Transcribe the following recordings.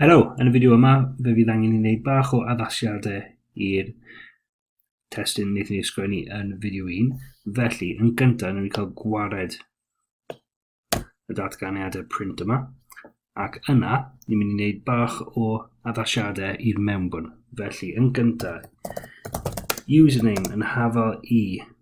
Helo, yn y fideo yma fe fydd angen i wneud bach o addasiadau i'r testyn wnaethon ni ysgrifennu yn fideo 1. Felly, yn gyntaf, wnawn ni cael gwared y datganiadau print yma, ac yna, ni'n mynd i wneud bach o addasiadau i'r mewnbwn. Felly, yn gyntaf, username yn hafal i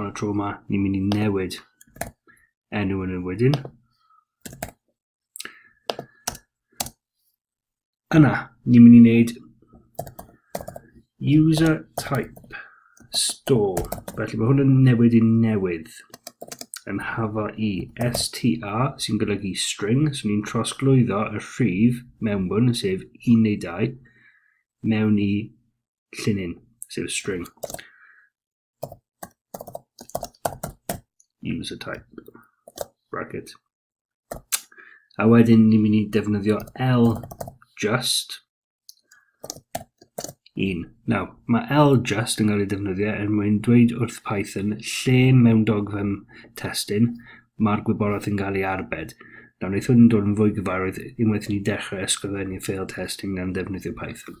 Ond y tro yma, ni'n mynd i newid enw yn y wedyn. Yna, ni'n mynd i wneud user type store. Felly mae hwn yn newid i newydd yn hafa i str sy'n golygu string, so ni'n trosglwyddo y rhif mewnbwn, sef 1 neu 2, mewn i llinyn, sef y string. User type, bracket. A wedyn ni'n mynd i defnyddio L just un. Now, mae L just yn cael ei defnyddio er mwyn dweud wrth Python lle mewn dogfen testyn mae'r gwybodaeth yn cael ei arbed. Nawr, wnaeth hwn yn dod yn fwy gyfarwydd unwaith ni dechrau ysgrifennu ffeil testyn gan ddefnyddio Python.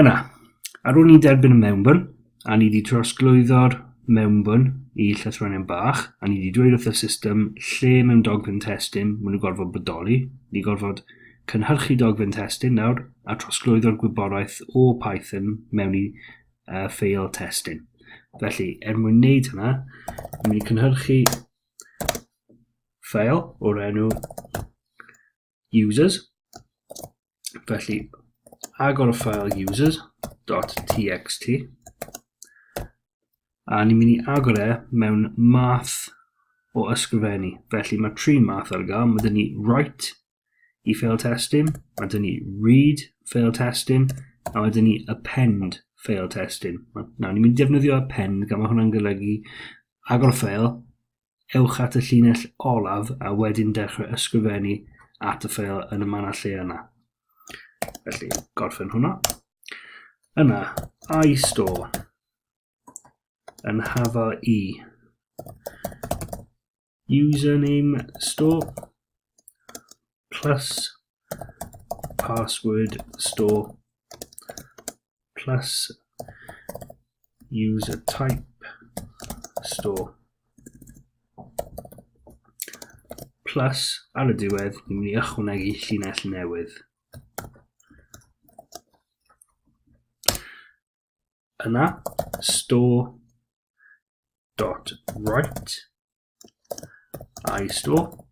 Yna, ar ôl ni derbyn y mewnbwn, a ni wedi trosglwyddo'r mewnbwn i llythronion bach, a ni wedi dweud wrth y system lle mewn dogfen testun maen nhw'n gorfod bodoli, ni gorfod cynhyrchu dogfen testun nawr a trosglwyddo'r gwybodaeth o Python mewn i uh, ffeil testun. Felly, er mwyn wneud hynna, ni'n mynd i cynhyrchu ffeil o'r enw users. Felly, agor y ffael users.txt a ni'n mynd i agor e mewn math o ysgrifennu. Felly mae tri math ar gael. Mae dyn ni write i fail testyn, mae dyn ni read fail testyn, a mae dyn ni append fail testyn. Nawr, ni'n mynd i defnyddio append, gan mae hwnna'n golygu agor y ffael, ewch at y llinell olaf a wedyn dechrau ysgrifennu at y ffeil yn y manna lle yna. Felly, gorffen hwnna. Yna, I store yn hafa i username store plus password store plus user type store plus ar y diwedd ni'n mynd i ychwanegu llinell newydd. Yna, store dot write i store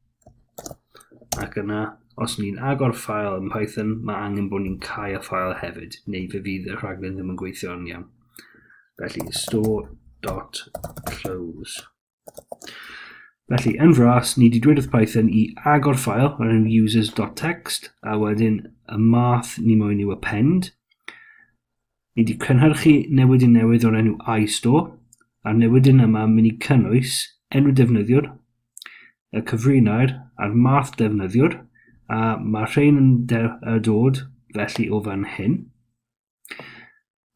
ac yna os ni'n agor ffael yn Python, mae angen bod ni'n cau y ffael hefyd, neu fe fydd y rhaglen ddim yn gweithio'n iawn. Felly, store dot close. Felly, yn fras, ni wedi dweud wrth Python i agor ffael o'r enw users.txt, a wedyn y math ni moyn yw append. Ni wedi cynhyrchu newidyn newydd o'r enw iStore, a'r newidyn yma yn mynd i cynnwys enw defnyddiwr, y cyfrinair a'r math defnyddiwr, a mae rhain yn dod felly o fan hyn.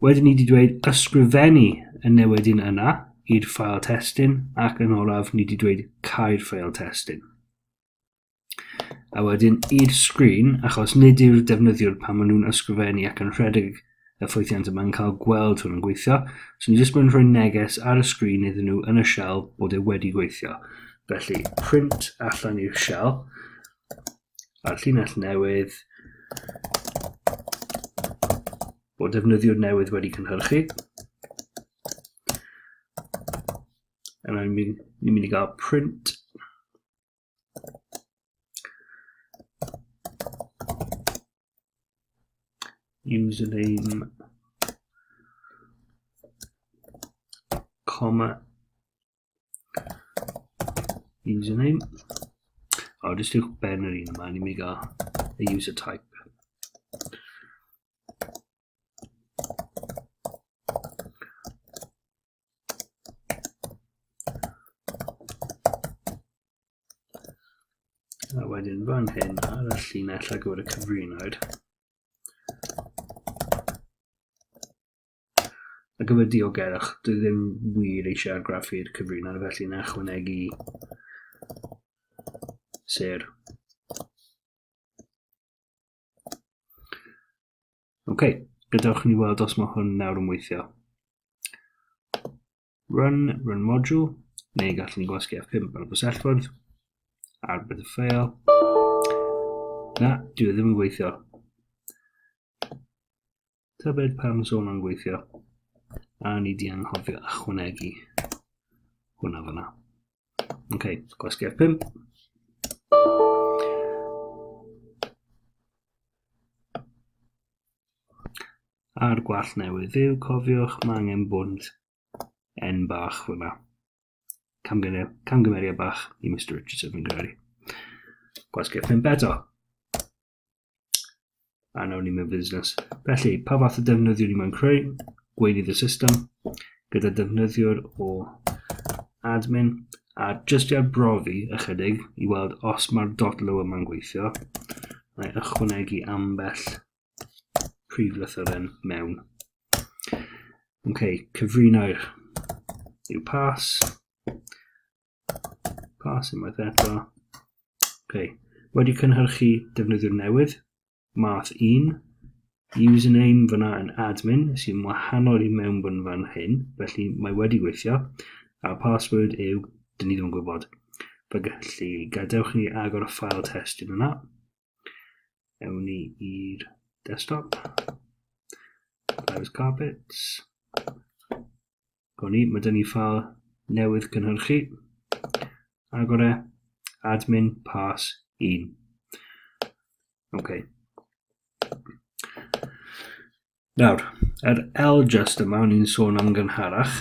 Wedyn ni wedi dweud ysgrifennu y newyddion yna i'r ffael testun ac yn olaf ni wedi dweud cau'r ffael testun. A wedyn i'r sgrin, achos nid yw'r defnyddiwr pan maen nhw'n ysgrifennu ac yn rhedeg y ffwythiant yma'n cael gweld hwn yn gweithio, so ni jyst mynd rhoi neges ar y sgrin iddyn nhw yn y shell bod e wedi gweithio. Felly, print allan i'r shell, a'r llinell newydd bod defnyddiwr newydd wedi cynhyrchu. Yna ni'n mynd, ni mynd i gael print. Username comma username o jyst i'w ben yr un yma ni'n mynd i gael y user type a wedyn fan hyn ar y llinell ar gyfer y cyfrinaid Ar gyfer diogerwch, dwi ddim wir eisiau argraffu'r cyfrino, felly na chwanegu ser. Ok, gadewch ni weld os mae hwn nawr yn weithio. Run, run module, neu gallwn ni gwasgu F5 ar y bysellfwrdd, ar bydd y ffeil. Na, dwi e ddim yn gweithio. Tybed pam sôn o'n gweithio, a ni di anghofio ychwanegu hwnna fyna. Ok, gwasgu F5. a'r gwallt newydd fyw, cofiwch, mae angen bwnt N bach fyma. Camgymeriad bach i Mr Richardson fi'n credu. Gwasgau pimp eto. A nawr ni mewn busnes. Felly, pa fath o defnyddiwr ni mewn creu? Gweinydd y system, gyda defnyddiwr o admin, a jyst i arbrofi ychydig i weld os mae'r dot low yma'n gweithio, mae ychwanegu ambell prif lythyren mewn. Ok, cyfrinair yw pas. Pas unwaith eto. Ok, wedi cynhyrchu defnyddiwr newydd, math 1, username fyna yn admin sy'n wahanol i mewnbwn fan hyn, felly mae wedi gweithio, a password yw, dyn ni ddim yn gwybod. Felly, gadewch ni agor y ffael testyn yna. Ewn ni i'r desktop. Private carpets. Gawn ni, mae dyn ni ffael newydd cynhyrchu. Agor e, admin pass 1. Ok. Nawr, yr L just yma, o'n i'n sôn am gynharach,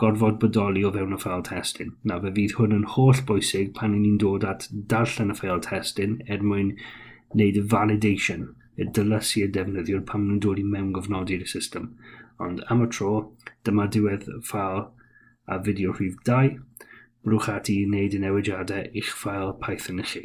gorfod bodoli o fewn y ffeil testun. Nawr, fe fydd hwn yn holl bwysig pan i ni'n dod at darllen y ffeil testun er mwyn wneud y validation, y dylysu y defnyddiwr pan nhw'n dod i mewn gofnodi'r y system. Ond am y tro, dyma diwedd ffeil a fideo rhif 2. Brwch ati i wneud y newidiadau i'ch ffeil Python chi.